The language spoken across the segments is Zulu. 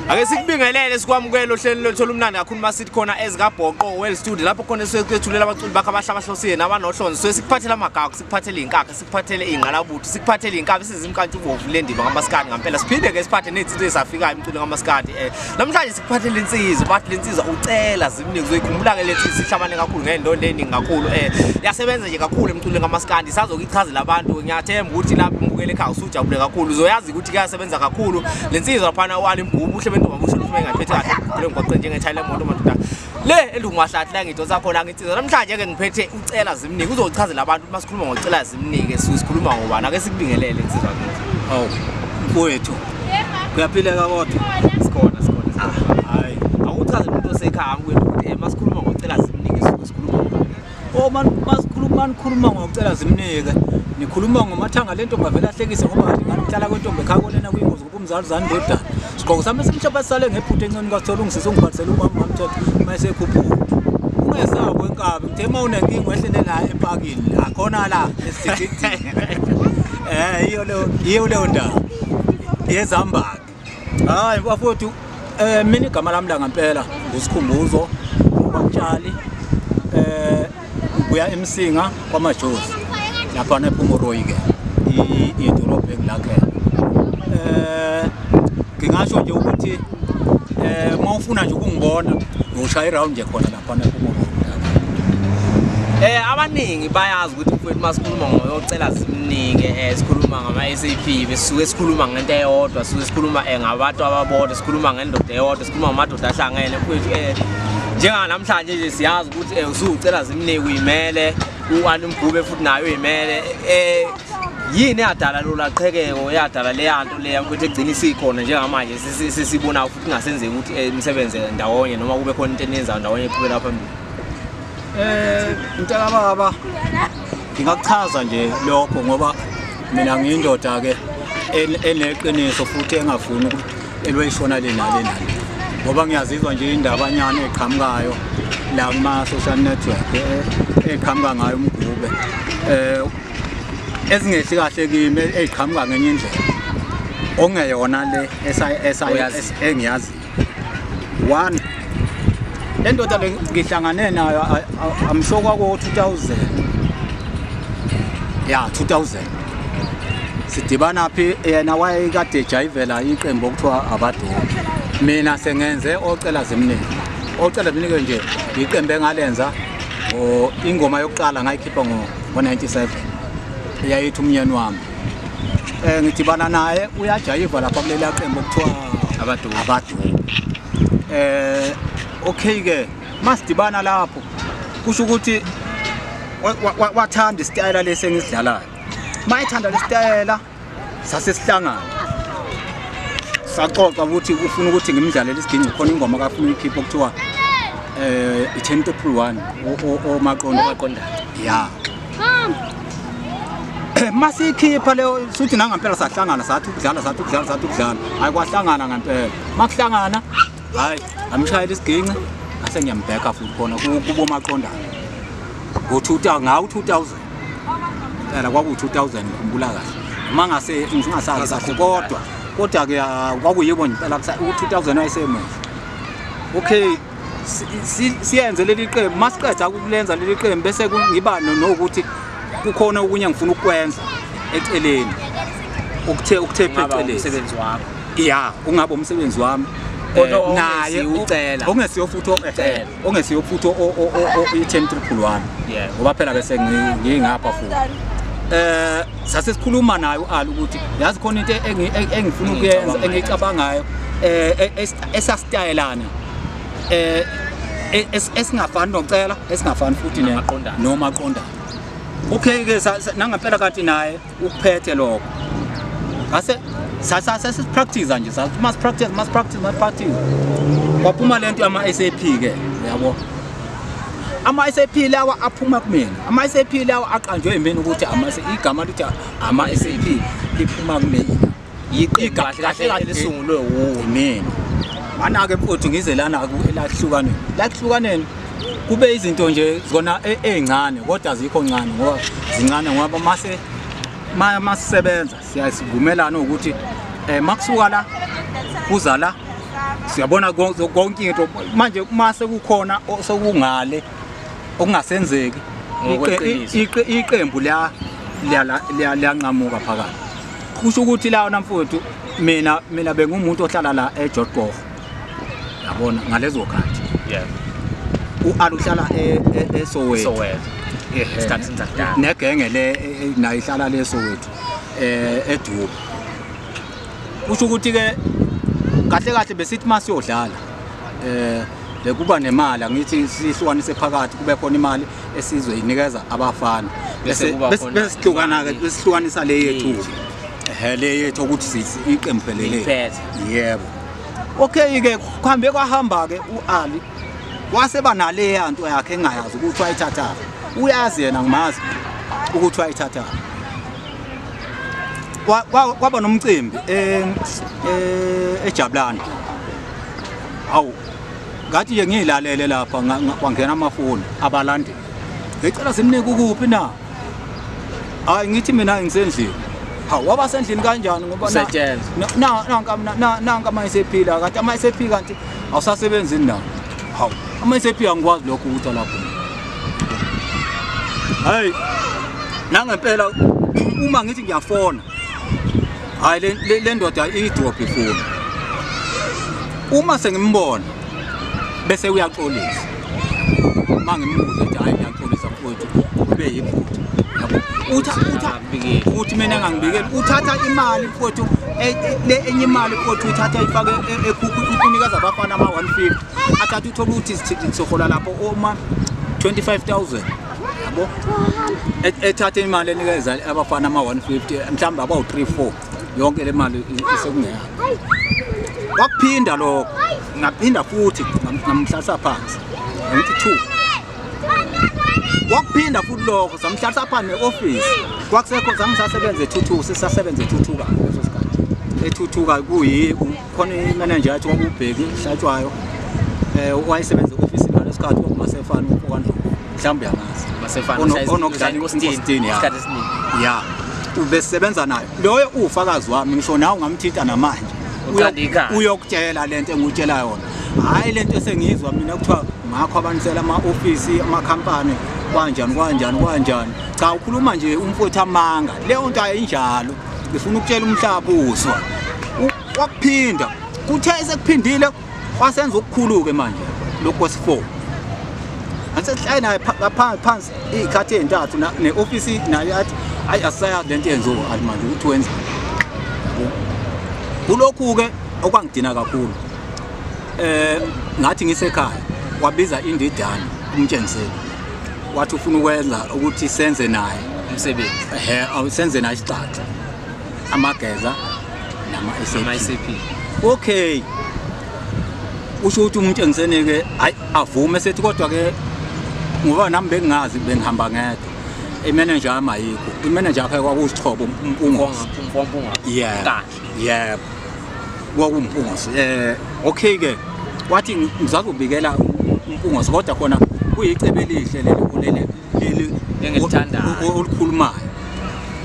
ake sikubingelele sikwamukele ohlelweni lwethu olumnandi kakhulu uma sithi khona ezikabhoqo well studio lapho khona esuke kwethulela abaculi bakho abahle abahlosile nabanohlonzi suke sikuphathela amagagu sikuphathele iy'nkakha sikuphathele iy'ngqalabutho sikuphathele iy'nkabi size imkantshubovu le ndima ngamasikandi ngampela siphinde-ke siphathe ney'nsiza ezafikayo emculo ngamasikandi um eh, namhlanje sikuphathele insizwa bathi le nsizwa ucela ziningi zoyikhumbula-ke le nsizwa ihlabane kakhulu ngey'ndondo ey'ningi kakhulu um yasebenza nje kakhulu emculweni ngamasikandi isazokuyichazela abantu ngiyathemba ukuthi lapho umbukele ekhaya usujabule kakhulu uzoyazi ukuthi kuyasebenza kakhulu le nsizwa laphana u-alimgubu uhle bentoba busho ukuthi uma engayiphethe kahle emgwaqeni njengethayile emoto madoda le elungwahlathi la ngidonsa khona ngithi namhlanje ke ngiphethe ucela zimnike uzochazela abantu ukuthi masikhuluma ngocela zimnike sikhuluma ngobani ake sikubingelele insizwa kithi awu mfowethu kuyaphileka kodwa sikhona sikhona ah, hayi awuchaze umuntu osekhaya mfowethu ukuthi eh, masikhuluma ngocela zimnike sikhuluma ngobani oh man masikhuluma nikhuluma ngocela zimnike nikhuluma ngomathanga lento ngavela hlekise ngoba ngihlala kwentombi ekhaya konena kuyingozi Umzali zani ndodana. Sigqoko sami esimhlophe sisale ngephutha encane kasithola ungisiza ungibhalisela umama wamthetho uma esekhuphuka. Ungesabo inkabi ngithe uma unenkinga wehlele la epakini la khona la esithi. Eh iyo leyo iyo leyo ndawo. Yezambaki. Hayi bafowethu eh mina igama lami la ngempela ngusikhumbuzo ubatshali eh kuya emsinga kwamajozi laphana ephuma uroyi-ke idolobha engilakela um eh, ngingasho nje ukuthi um eh, uma ufuna nje ukungibona ngiwushaya irawundi nje khona laphana ephuma uroyi um eh, abaningi bayazi ukuthi mfowethu uma sikhuluma ngoyocela simningi um sikhuluma ngama-s a p besuke sikhuluma ngento eyodwa suke sikhuluma um ngabantu ababodwa sikhuluma ngendoda eyodwa Uma amadoda ahlangene mfowethu eh njenganamhlanje nje siyazi ukuthi eh usucela zimnike uyimele uwani mgube futhi nayo uyimele eh yini eyadala lola qhekeko eyadala leya nto leya mfowethu egcina isikhona njengamanje sisibona futhi ngasenzeki ukuthi eh, imisebenze ndawonye noma kube khona into eniyenzayo ndawonye eqhubela phambili eh mntaka baba ngingakuchaza nje lokho ngoba mina ngiyindoda ke eneqiniso futhi engafuni ukuthi elwe ishona lena lena ngoba ngiyazizwa nje indabanyana eqhamukayo la kuma social network eh, eqhamuka ngayo umgube eh ezingehli kahle kimi eqhamuka ngenye indlela ongeyona le engiyazi one lendoda le ngihlangane nayo amsho kwako 2000 ya 2000 sidibana phi yena wayekade ejayivela iqembu okuthiwa abadoki mina sengenze ocela zimningi ocela zimningi nje iqembu engalenza ingoma yokuqala ngayikhipha ngo-97 yayithi umnyeni wami um eh, ngidibana naye uyajayiva lapha kuleli aqembu okuthiwa abadoki um eh, okay-ke masidibana lapho kusho ukuthi wathanda isitayela lesi engisidlalayo uma ethanda lesitayela sase sihlangana saxoxa ukuthi ufuna ukuthi ngimdlalele isidingo khona ingoma kafuna uyikhipha okuthiwa eh i-ten to pull one omaqondo omaqondana ya masiyikhipha leyo suthi nangampela sahlangana sathi ukudlala sathi ukudlala sathi ukudlala hayi kwahlangana ngampela makuhlangana hayi amshayela isiginci ase ngiyambheka futhi khona kubomaqondana ngo-2000 ngawu-2000 phela kwakuwu-2000 ngikhumbula kahle uma ngase ngingasazi kahle kodwa kodwa-ke ah, kwakuyibo nje phela u-2000 wayesemuhle okay si- si- siyenze leli qembu uma siqeda ukulenza leli qembu bese ku- ngiba no- nokuthi kukhona okunye ngifuna ukukwenza eceleni okuthe okuthe Kungaba phecelezi umsebenzi wakho ya ungabe umsebenzi wami Kodwa eh, naye ongesiwo- ucela. ongesiyo futhi o- eh, Ucela. ongesiyo futhi o- o- o- o- i-ten triple one Yeah. ngoba phela bese ngi- ngingapha futhi eh sase sikhuluma naye u-ali ukuthi yazi khona into engi- e- engifuna ukuyenza Engiyicabanga engiyicabangayo eh e- es- esasitayelana eh e- es- esingafani nocela esingafani futhi ne- Namaqondana. nomaqondana okay ke sa- sa- nangempela kanti naye ukuphethe lokho ngase sasipractice nje must practice must practice must practice kwaphuma le nto yama-sap ke uyabo ama-sap lawa aphuma kumina ama-sap lawa aqanjwe yimina ukuthi igama lithi ama-sap liphuma kumina yiqembu kahle kahle kahle lisungulwe wumina manake mfowethu ngize lana lakuhlukaneni lakuhlukaneni kube izinto nje zona e, ezincane kodwa zikho ncane ngoba zincane ngoba mase masisebenza siyasivumelana ukuthi um eh, makusuka la kuza la siyabona konke into manje uma sekukhona sekungale okungasenzeki iqembu liyanqamuka phakathi kusho ukuthi lawona mfowethu mina mina bengumuntu ohlala la eJodgogo yabona ngalezo khathi yeah ualuhlala eSoweto Soweto isikhathi sindakudala negenge le e, e, nayo ihlala leSoweto eh eDubo kusho ukuthi ke kahle kahle besithi masiyodlala eh bekuba nemali angithi sihlukanise phakathi kube khona imali esizwe inikeza abafana bese sihlukana-ke besihlukanisa le yethu ehe le yethu ukuthi iqembu phelele yebo okay-ke kuhambe kwahamba-ke u-ali wase banaleya nto yakhe engayazi ukuthi wayithathaphi uyazi yena ngimazi ukuthi wayithathaphi kwaba nomcimbi eh, eh, ejabulani hawu ngathi ke ngiyilalele lapha kwangena amafoni abalandeli ngicela simnike ukuphi na hayi ngithi mina ngisendlini hawu waba sendlini kanjani ngoba nanka ama esephila kanti ama esephi kanti awusasebenzi nawo hawu ama esephi angikwazi lokho ukuthi alapho hayi nangempela uma ngithi ngiyafona hayi le- le- le ndoda idrop ifuna uma sengimbona bese uyaxolisa uma ngimbuze ukuthi hayi ngiyaxolisa mfowethu kube yiphutha Yabo? Utha- utha- Ngingabikeli. uthi mina ngangibikeli uthatha imali mfowethu e- e- le enye imali mfowethu uthatha ifake e- ekhukhu ukunikeza abafana ama-150 athatha uthole ukuthi sithi- sihola lapho oma 25000 yabo E- ethathe imali enikeza abafana ama-150 mhlawumbe abawu-3 4 yonke le mali i- isekungeyabo wakuphinda lokho ngaphinda futhi ngam- ngamhlalisa phansi ngithi two wakuphinda futhi lokho samhlalisa phansi ne-ofisi kwakusekho zangisasebenza ethuthuka sisasebenza ethuthuka leso sikhathi ethuthuka kuyi khona imenenja yathi kwakubheki hlatshwayo um wayesebenza e-ofisini ngaleso khathi kwakumasefana okwandlovu mhlawumbe uyamaziunokudlalaesikhathini ya ubesebenza nayo loyo uwufakazi wami ngisho nawe ungamthinta namanje uyokutshela le nto engikutshela yona hhayi le nto esengiyizwa mina kuthiwa ngakho abanisela ama-ofisi amakhampani kwanjani kwanjani kwanjani cha ukhuluma nje umfowethu amanga leyo nto ayinjalo ngifuna ukutshela umhlaba uzwa wakuphinda kuthe sekuphindile wasenza okukhulu-ke manje lokhu kwesi-four asesihlale naye phansi iy'khathi ey'ntathu ne-ofisi naye athi hhayi asisayazi le nto yenziwa athi manje ukuthi wenza kulokhu-ke okwangidina kakhulu um ngathi ngisekhaya wabiza indidana umtshengiseli wathi ufuna ukwenza ukuthi senze naye umsebenzi ehe awusenze naye isixaxa amageza nama ama SAP okay usho ukuthi umuntu engisenike hayi avume sethi kodwa ke ngoba nami bengingazi bengihamba ngedwa imanager yami ayikho imanager yakhe kwakusixhobo umpungosi Mfompunga. yeah Yebo. Kwakumpungose. Eh okay ke. Wathi ngizakubikela umpungose kodwa khona kuyicebe elihle leli kulele leli engilithandayo olukhulumayo.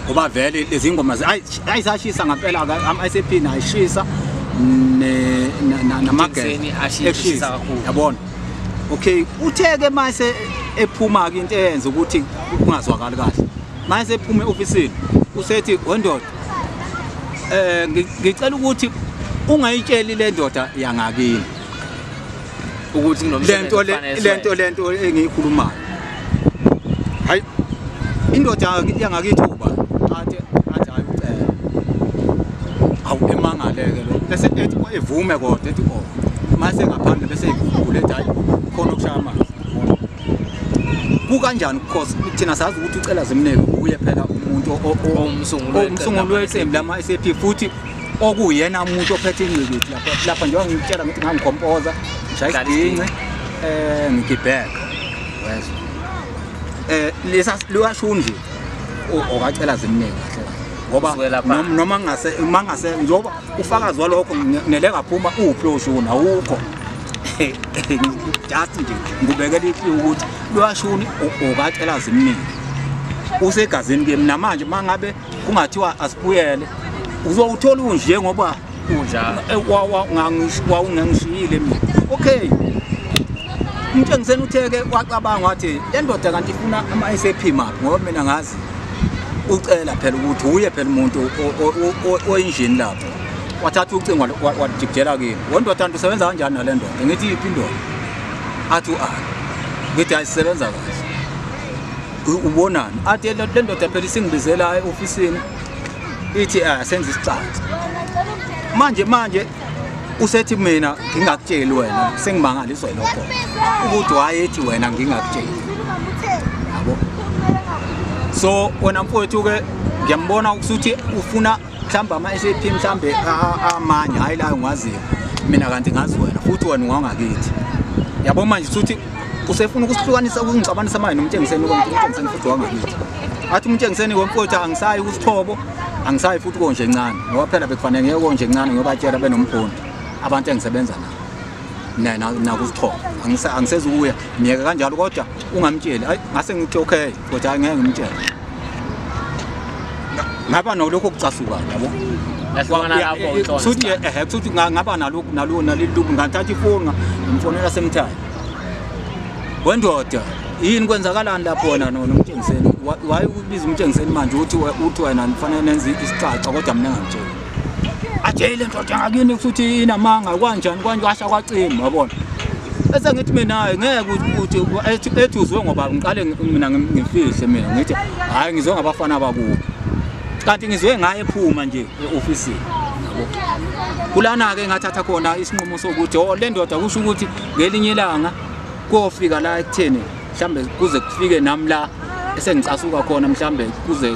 Ngoba vele lezi ngoma ayisashisa ngempela ke ama ICP nayishisa ne namageni ashisa kakhulu. Yabona. Okay, uthe ke mase ephuma ke into eyenza ukuthi kungazwakali kahle. Mase ephume office usethi wendoda eh ngicela ukuthi ungayitsheli le ndoda yangakini ukuthi lento lento lento engiyikhulumayo hayi indoda yangakithi uba athe athi hayi ucela awu emangaleke lo bese ethi evume kodwa ethi oh mase ngaphandle bese ikuvule ethi hayi khona okushaya amanzi kukanjani because thina sazi ukuthi ucela zimneke uye phela umuntu omsunguli weqembu lama SAP futhi okuyena umuntu ophethe ingqikithi lapha lapha njengoba ngikutshela ngithi ngangikhompoza ngishaya isigingci eh ngigibheka wezwa eh lesa liyasho nje okacela zimneke kahle ngoba noma ngase mangase njengoba ufakazi walokho nele ngaphuma uphi lo shuni awukho just nje ngibekela ithi ukuthi lwashuni okatshela zimningi usegazini ke mina manje mangabe kungathiwa asibuyele uzowuthola unje ngoba unjalo eh, wawungangishiyile mina okay umtshengiseni utheke wacabanga wathi le ndoda kanti ifuna ama-sap maphi ngoba mina ngazi ucela phela ukuthi uye phela umuntu oyinjini lapho wathatha ucingo wajikijela kimi wondoda nto usebenza kanjani nale ndoda ngithi yiphi indoda athi u-a ngithi hayi sisebenza kahle ubonani athi le ndoda phela isingibizela e-ofisini ithi eh, senza isicatha manje manje usethi mina ngingakutsheli wena sengimangaliswa yilokho ukuthi wayethi wena ngingakutsheli yabo so wena mfowethu-ke ngiyambona ukuthi ufuna mhlawumbe ama-sap mhlawumbe amanye hhayi layo ngiwaziyo mina kanti ngazi wena futhi wena ungangakithi yabo manje suthi usefuna ukusihlukanisa ukungixabanisa manje nomtshengiseni umtshengiseni futhi wangakithi athi umtshengiseni wemfowethu angisayi kusithobo angisayi futhi konje encane ngoba phela bekufanele ngeke konje encane ngiyobatshela benomfundi abantu engisebenza nabo nakusithobo angisezukuya myeke kanjalo kodwa ungamtsheli ayi ngase ngithi okay But angeke ngimtshele. Ngaba nolokho kucasuka yabo. Lahlangana lapho uThona. Suthi eh suthi ngaba nalokhu nalo nalilungu ngathatha ifoni ngimfonela semthaya. Wendoda yini kwenzakalani lapho na no nomtshengiseni? Why ubiza umtshengiseni manje uthi uthi wena nifanele nenze isicaca kodwa mina ngangitshela. ajele ndoda ngakini ukuthi inamanga kwanjani kwanjwasha kwacima wabona bese ngithi mina ngeke ukuthi ethi ethi uzwe ngoba ngiqale mina ngimfihle mina ngithi hayi ngizwe ngabafana abakubo kanti ngizwe ngaye phuma nje eoffice kulana ke ngathatha khona isinqumo sokuthi oh le ndoda kusho ukuthi ngelinye ilanga kofika la ekutheni mhlambe kuze kufike nami la esengicasuka khona mhlambe kuze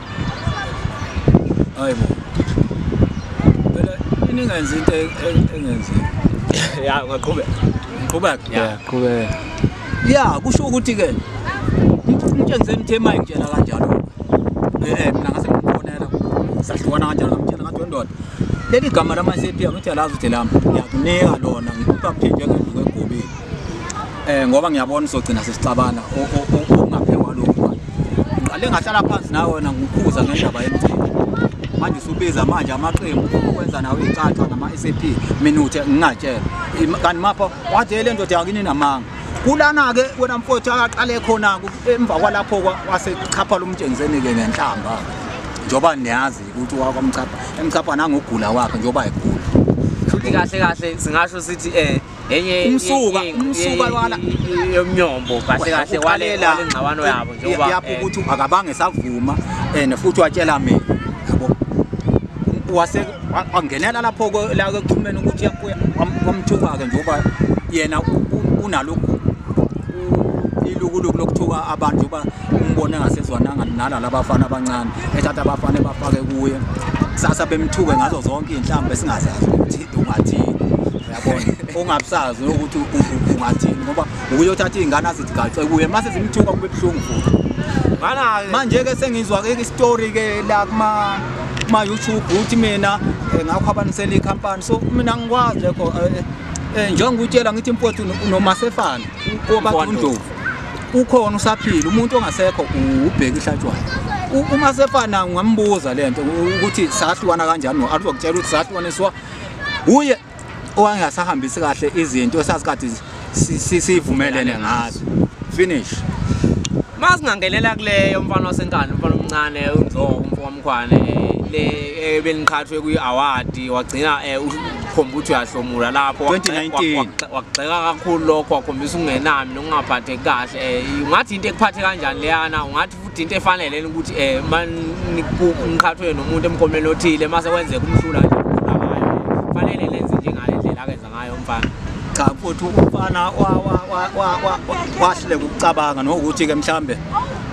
hayi bo phela iningenza into e- e- engenzeki ya ungaqhubeka qhubeka ya qhubeka ya kusho ukuthi ke ngitshengise nithe mayi ngitshela kanjalo eh mina ngase ngimfonela sahlukana kanjalo ngitshela ngathi wendoda leli gama lama-cpm uthi alazi ukuthi lami ngiyakunika lona ngikupha mthinje ngendlu kwegobile Eh ngoba ngiyabona uzogcina sesixabana okungaphekwa lokho. Ngiqale ngahlala phansi nawe wena ngikukhuza ngendaba yemthetho. Manje usubiza manje amaqembu ukwenza nawe icaca ngama SAP minute ngingatshela. Kanti mapha wathi le ndoda yakini namanga. kulana ke wena mfowethu akaqale khona emva kwalapho wasechapha lomtshengiseni ke ngenhlamba njoba niyazi ukuthi wakwamchapha emchapha nangogula wakhe njoba egula futhi kahle kahle singasho sithi eh umsuka umsuka lwana yomnyombo kahle kahle walela ingxabano yabo njengoba yapho eh, ukuthi akabange savuma and futhi watshela mina yabo wase wangenela lapho la ekuthumeni ukuthi yakuya wamthuka ke njengoba yena unalokhu ilukuluku lokuthuka abantu uba umbone ngasezwananga nala labafana abancane ethatha abafana bafake kuye kusasa bemthuke ngazo zonke iy'nhlamba esingazazi ukuthi ungathini yabona ongabusazi ukuthi ungathini ngoba ukuyothatha iy'ngane azithi gace kuye mase zimthuka kube buhlungu futhi manje-ke sengizwa-ke isitori-ke la kuma-youtube ukuthi mina eh, ngakho abanisela ikhampani so mina ngikwazi lekho eh, eh, njengoba utshela ngithi mfowethu nomasefana kobathundlovu ukhona usaphila umuntu ongasekho ubheki ihlatshwayo umasefana ngambuza le nto ukuthi sahlukana kanjani no-aluzokutshela ukuthi sahlukane siwa uye owangasahambisi kahle izinto esazikade sivumelene ngazo finish masingangelela kuleyo mfana wasenkani mfana omncane unzoko umfo wamkhwane le ebeniqhathwe kwi-award wagcina eh, ukhomba ukuthi uyahlomula lapho wakugxeka kakhulu lokho wakhombisa ukungenami nokungaphatheki kahle um ungathi into ekuphathe kanjani leyana ungathi futhi into efanele ukuthi eh maniqhathwe nomuntu emkhomeni othile mase kwenzeka umhlula nje fanele lenze njengale ndlela akenza ngayo umfana cha futhi umfana wahluleka ukucabanga nokuthi ke mhlambe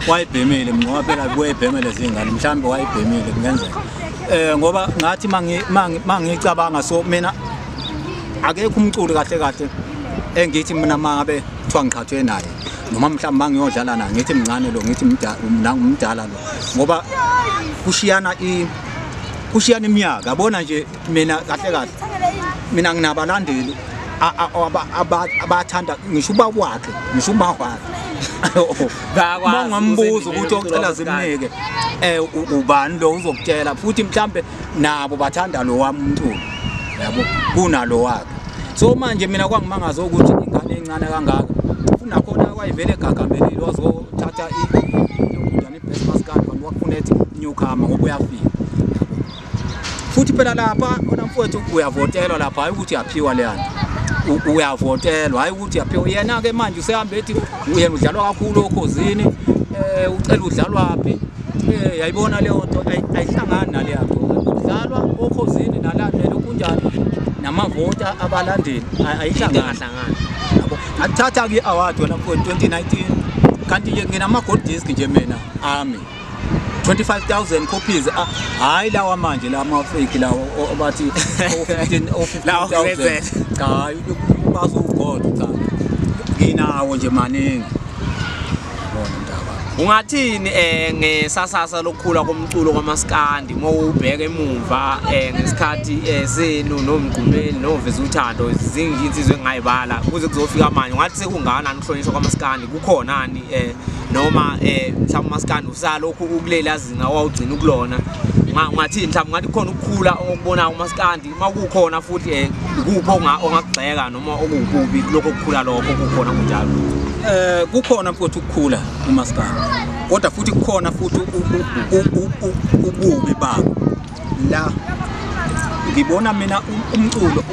wayibhemile mnqoba phela kuyibheme lezingane mhlambe wayibhemile kungenzeka eh ngoba ngathi mangi mangicabanga so mina akekho umculo kahle kahle engithi mina mangabe kuthiwa ngiqhathwe naye noma mhlawumbe mangiyodlala na ngithi mncane lo ngithi mdala lo ngoba kushiyana i kushiyana iminyaka yabona nje mina kahle kahle mina nginabalandeli abathanda ngisho uba wakhe ngisho uma wakhe mangimbuza ukuthi ocela zimnike um ubani lo uzokutshela futhi mhlawumbe nabo bathanda lo wami umculo yabo kunalo wakhe so manje mina kwangimangaza ukuthi ingane encane kangaka funa khona kwayivele egagambelile wazothatha iyokudana i-christmas card kanti wakufuna ethi newcomer ngoba uyafika futhi phela lapha khona mfowethu uyavotelwa lapha hhayi ukuthi yaphiwa leya nto uyavotelwa hhayi ukuthi yaphiwa yena-ke manje usehambe ethi yena udlalwa kakhulu okhozini um ucela udlalwaphi Eh, yayibona leyo nto ayihlangani nale yakho kudlalwa okhozini nalandlela okunjani namavota abalandeli ayihlangani akuthatha ke award wena for 2019 kanti ke nginama gold disc nje mina ami 25000 copies ah, hayi lawa manje la ma fake lawo obathi 15 15000 cha bazo gold cha nginawo nje maningi bona ndaba ungathini eh ngesasasa lokukhula komculo kwamaskandi uma ubheka emumva eh ngesikhathi eh, senu nomgqumeli noveza uthando izingi insizwe engayibala kuze kuzofika manje ungathi sekungana ukuhlonishwa kwamaskandi kukhonani eh noma eh mhlawumbe umaskandi usalokhu ukulela zinga wawugcina ukulona ungathini mhlawumbe ngathi khona ukukhula okubona umaskandi uma kukhona futhi eh, kuphi ongakugxeka noma okukubi lokho kukhula lokho kukhona kunjalo eh kukhona futhi ukukhula umaskana kodwa futhi kukhona futhi ububi babo la ngibona mina umculo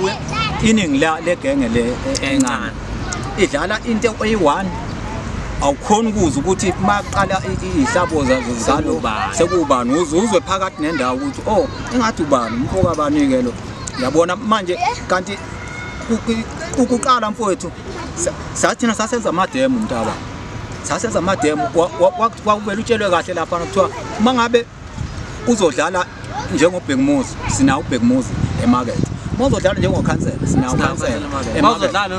iningi la legenge le e-, encane idlala into eyi-one awukhona ukuza ukuthi maqala ihlabo zalo sekubani uzwe phakathi nendawo ukuthi oh ingathi ubani umfoko abanike lo yabona manje kanti ukuqala mfowethu sathina sasenza amademo mntaba sasenza amademo kwakuvele utshelwe kahle lapha kuthiwa uma ngabe uzodlala njengobhekumuzi sinawo ubhekumuzi emakethe mozodlala njengokhansela sinawo khansela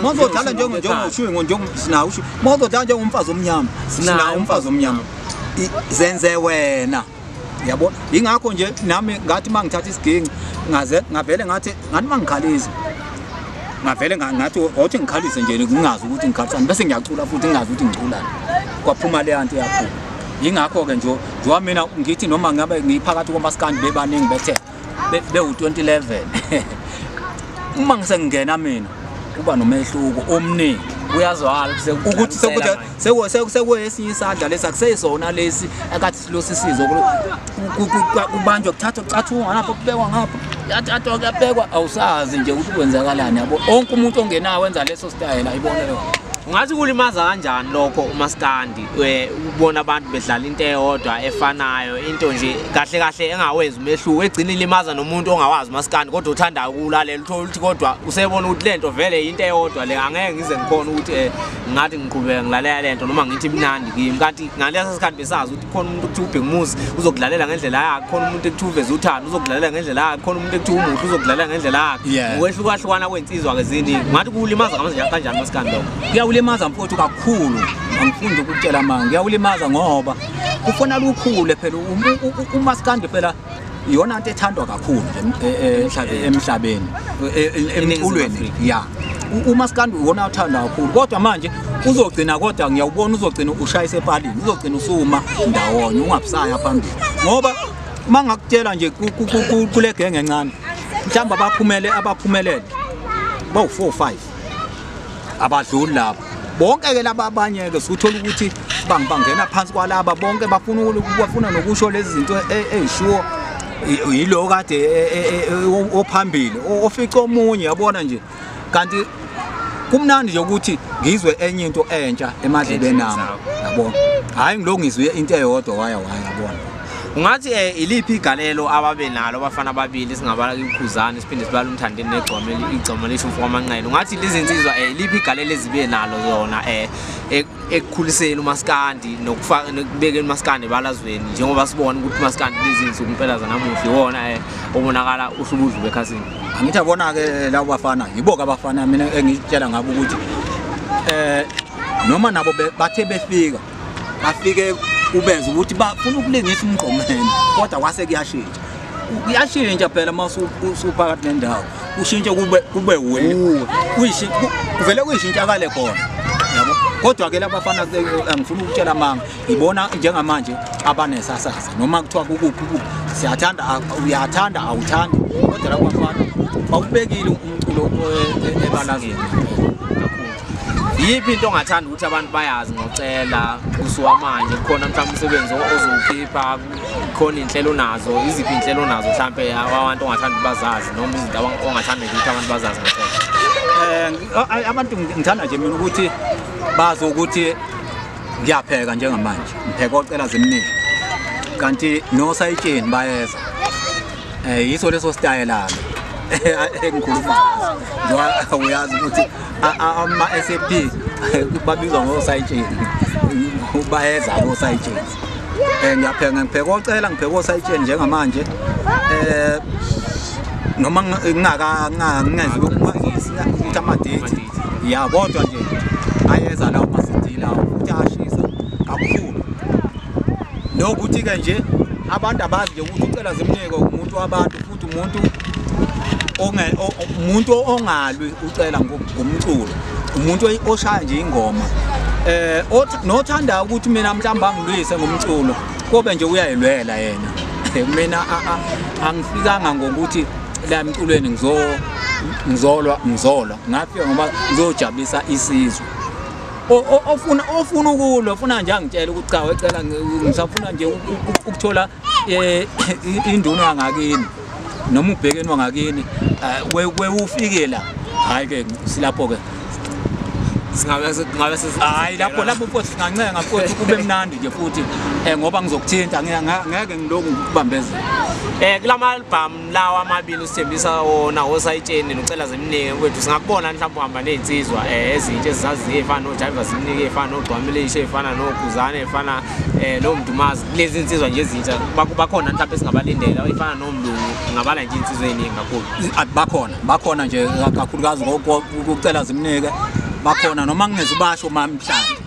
mozodlala njengoshingo njengosinawo mozodlala njengomfazi omnyama sinawo umfazi omnyama zenze wena yabo ingakho nje nami ngathi uma ngithatha isiginci ngaze ngavele ngathi ngathi uma ngikhalisa ngavele ngathi othi ngikhalise nje ngingazi ukuthi ngikhalisa bese ngiyacula futhi ngingazi ukuthi ngiculani kwaphuma le anti yaphuma yingakho-ke nje njengoba mina ngithi noma ngabe ngiphakathi komasikandi bebaningi bethe bewu-2011 uma ngisengingena mina kuba nomehluko omningi uyazwala ukuthi sekwesinye isandla lesi akuseyisona lesi akathi silosi sizo kubanjwa kuthathwa kucathungwa lapho kubekwa ngapho yathathwa kuyabekwa awusazi nje ukuthi kwenzakalani yabo onke umuntu ongenayo wenza leso sitayela ayibona leyo ngathi kulimaza kanjani lokho umaskandi eh, ukubona abantu bedlala into eyodwa efanayo into nje kahle kahle engawenzi umehluko egcina ilimaza nomuntu ongawazi maskandi kodwa uthanda ukulalela uthola ukuthi kodwa usebona ukuthi lento vele into eyodwa le angeke ngize ngikhona ukuthi eh, ngathi ngiqhubeka ngilalela lento noma ngithi imnandi kimi kanti ngalesa sikhathi besazi ukuthi khona umuntu okuthiwa ubhekumuzi uzokudlalela ngendlela yakhe khona umuntu ekuthiwa uveza uthando uzokudlalela ngendlela yakhe khona umuntu ekuthiwa umuhle uzokudlalela ngendlela yakhe ukwehlukahlukana kwensizwa ke ziningi ngathi kuwulimaza kanjani maskandi lokho kuyawulimaza mfowethu kakhulu angifundi ukutshela manga uyawulimaza ngoba kufona lukhule phela umaskandi phela iyona nto ethandwa kakhulu e, e, e, emhlabeni emculweni ya umaskandi uwona othanda kakhulu kodwa manje uzogcina kodwa ngiyawubona uzogcina ushayise epalini uzogcina usuma ndawonye ungabusaya phambili ngoba uma ngakutshela nje kule genge encane mhlawumbe abaphumele abaphumelele bawu-four five abadluli lapho bonke ke laba abanye ke sikuthola ukuthi bangibangena phansi kwalaba bonke bafuna ukubafuna nokusho lezi zinto ezishiwo yilo kade ophambili ofica omunye yabona nje kanti kumnandi nje ukuthi ngizwe enye into entsha emadlebeni nami yabona hayi ngilokhu ngizwe into eyodwa waya waya yabona ungathi um eh, iliphi igalelo ababe nalo abafana ababili singabala ikhuzane siphinde sibala umthandeni negcoma igcoma lisho umfo kwamanqele ungathi lizinsizwa um eh, iliphi igalelo ezibe nalo zona um eh, e-, ekukhuliseni umaskandi nokubekeni umaskandi ebalazweni njengoba sibona ukuthi umaskandi lizinsuku impela zanamuhle iwona um obonakala uhlubudlu bekhasini angithi abona-ke labo bafana yibo-ke abafana mina engitshela ngabo ukuthi um noma nabo bathe befika bafike ubeze ukuthi bafuna ukulingisa umgqomeni kodwa kwase kuyashintsha kuyashintsha phela uma usuphakathi nendawo ushintshe kube kube wena kuvele kuyishintshakale khona yabo kodwa ke labafana angifuni ukutshela amanga ngibona njengamanje abanesasasa noma kuthiwa kukuphi ukuphi siyathanda uyathanda awuthandi kodwa labafana bawubekile umculo e-, e-, ebalangeni Yiphi into ongathanda ukuthi abantu bayazi ngocela kusuka manje kukhona mhlawumbe umsebenzi ozowukhipha khona inhlelo nazo iziphi inhlelo nazo mhlawumbe abantu ongathanda bazazi noma izinto ongathanda ukuthi abantu bazazi ngocela eh abantu ngithanda nje mina ukuthi bazi ukuthi ngiyapheka njengamanje ngipheka ocela zimningi kanti nosayitsheni bayeza Eh yiso leso stayela engikhuluma ngaso. Uyazi ukuthi ama SAP babizwa ngo sayitsheni. Bayeza ngo sayitsheni. Eh ngiyapheka ngipheka ocela ngipheka osayitsheni njengamanje. Eh noma ngingaka ngingezwe ukuthi amadate ya kodwa nje ayeza lawo masidila ukuthi ashisa kakhulu nokuthi-ke nje abantu abazi nje ukuthi ucela zimnike umuntu wabantu futhi umuntu umuntu ongalwi ucela ngomculo umuntu oshaya nje ingoma eh nothanda ukuthi mina mhlamba ngilwise ngomculo kobe nje uyayilwela yena mina angifikanga ngokuthi la emculweni ngizo ngizolwa ngizolwa ngafika ngoba ngizojabulisa isizwe ofuna ofuna ukulwa ufuna nje angitshela ukuthi cha wecela ngisafuna nje ukuthola eh, induna yangakini noma ubhekeni wangakini eh, we ufike la hayi ke silapho ke singabe singabe hayi lapho lapho mfowethu singancenga mfowethu kube mnandi nje futhi eh, ngoba ngizokuthinta ngeke ngiloku ngikubambezela eh kulama album lawa amabili usithembisa wona osayitsheni nocela zimnike kwethu singakubona mhlawumbe uhamba ney'nsizwa um eh, ezintsha ezizaziyo ey'fana nojayiva zimnike ey'fana nogcwamilisha ey'fana noguzane ey'fana um eh, nomdumazi kulezi nsizwa nje ezintsha bakhona mhlawumbe esingabalindela ey'fana nomlungu ngabala nje iy'nsizwa ey'ningi kakhulu bakhona bakhona nje kakhulukazi kucela zimnike bakhona noma ngingeza ubasho uma mhlawumbe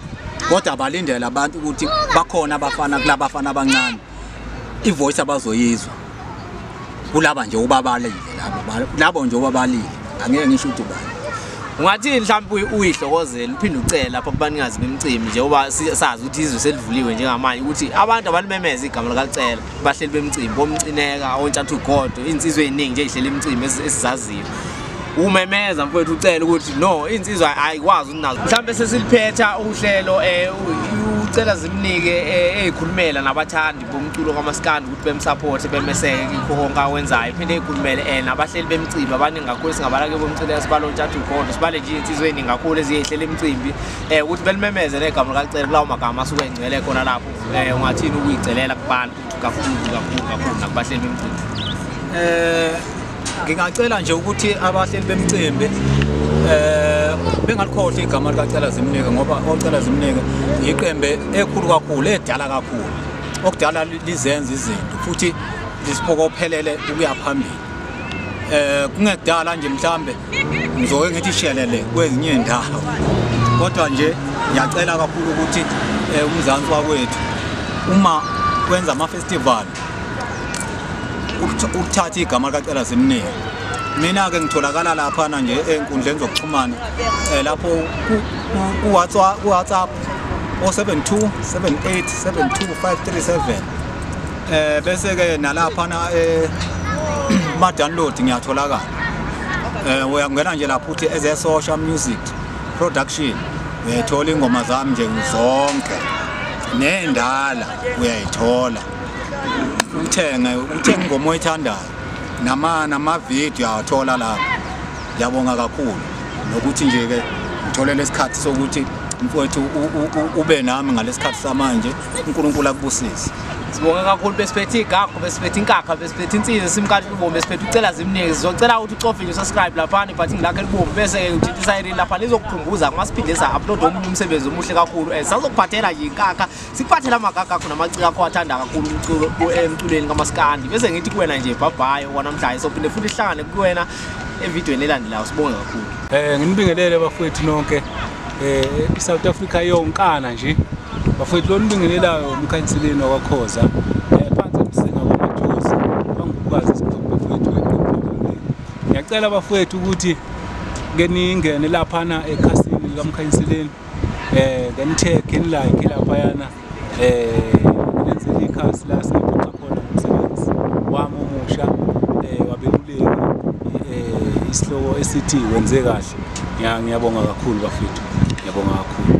kodwa balindele abantu ukuthi bakhona abafana kulabafana abancane ivoice abazoyizwa kulaba nje ubabalile labo labo nje ubabalile angeke ngisho ukuthi ubani ungathi mhlawumbe uyihlokozela uphinde ucela lapha kubanikazi bemcimbi njengoba sazi ukuthi izwe selivuliwe njengamanje ukuthi abantu abalimemeza igama likalicela bahleli bemcimbi bomcineka ontshathu godo iy'nsizwa ey'ningi nje ey'hleli imcimbi esizaziyo umemeza mfowethu ucela ukuthi no iy'nsizwa ayikwazi ukunazo mhlawumbe sesiliphetha uhlelo um ucela zimnike eh, ey'khulumela nabathandi umculo kamaskandi ukuthi bemsapothe bemeseke kikho konke awenzayo iphinde ikhulumele and abahleli bemcimbi abaningi kakhulu singabala ke bomcele sibale ontshathu ugodo sibale nje insizwe eningi kakhulu eziyehlela imicimbi um ukuthi belimemeze negama likalicele kulawo magama asuke engcwele khona lapho um ungathini ukuyicelela kubantu kakhulu kakhulu kakhulu nakubahleli bemcimbi um ngingacela nje ukuthi abahleli bemcimbi eh bengalikhohle igama likacela zimnike ngoba ocela zimnike yiqembe ekhulu kakhulu edala kakhulu okudala lizenza izinto futhi lisipokophelele ukuya phambili eh kungekudala nje mhlambe ngizoke ngithi shelele kwezinye indawo kodwa nje ngiyacela kakhulu ukuthi eh, umzansi wakwethu uma kwenza ama festival ukuthatha igama likacela simningi mina-ke ngitholakala laphana nje ey'nkundleni zokuxhumana um lapho ku-whatsapp o-72 78 72 537 um bese-ke nalaphana eh, kuma-download ngiyatholakala um uyakungena nje lapho uthi ezesosha music production uyayithola iy'ngoma zami nje zonke nendala uyayithola uthenge uthenge ingoma oyithandayo nama namavidiyo awathola lapho ngiyabonga kakhulu nokuthi nje-ke ngitholele isikhathi sokuthi mfowethu ube nami ngalesikhathi samanje uNkulunkulu akubusise sibonga kakhulu besiphethe igagu besiphethe inkakha besiphethe insizwa simkhathi ubomi besiphethe ucela zimningi sizocela ukuthi ucofe nje subscribe lapha nibhathi ngilakhe libomi bese ke ngithintisa irini lapha lizokukhumbuza uma siphinde sa upload omunye umsebenzi omuhle kakhulu and eh, sazokuphathela nje inkakha siphathe la magaka akho namaciko akho athanda kakhulu umculo emculweni kamaskandi bese ngithi kuwena nje bhabhayo kwanamhlanje sophinde futhi sihlangane kuwena evidweni elandelayo sibonge kakhulu um nginibingelele bafowethu nonke um i-south africa yonkana nje bafowethu lo nibingelelayo umkhanseleni wakwakhoza ngiyacela bafowethu ukuthi ke ningene laphana ekhasini likamkhanyiseleni eh then tag in like laphayana eh lenzile ikhasi la singaphoxa khona umsebenzi wami omusha eh wabeluleki eh isihloko esithi wenze kahle ngiyabonga kakhulu bafethu ngiyabonga kakhulu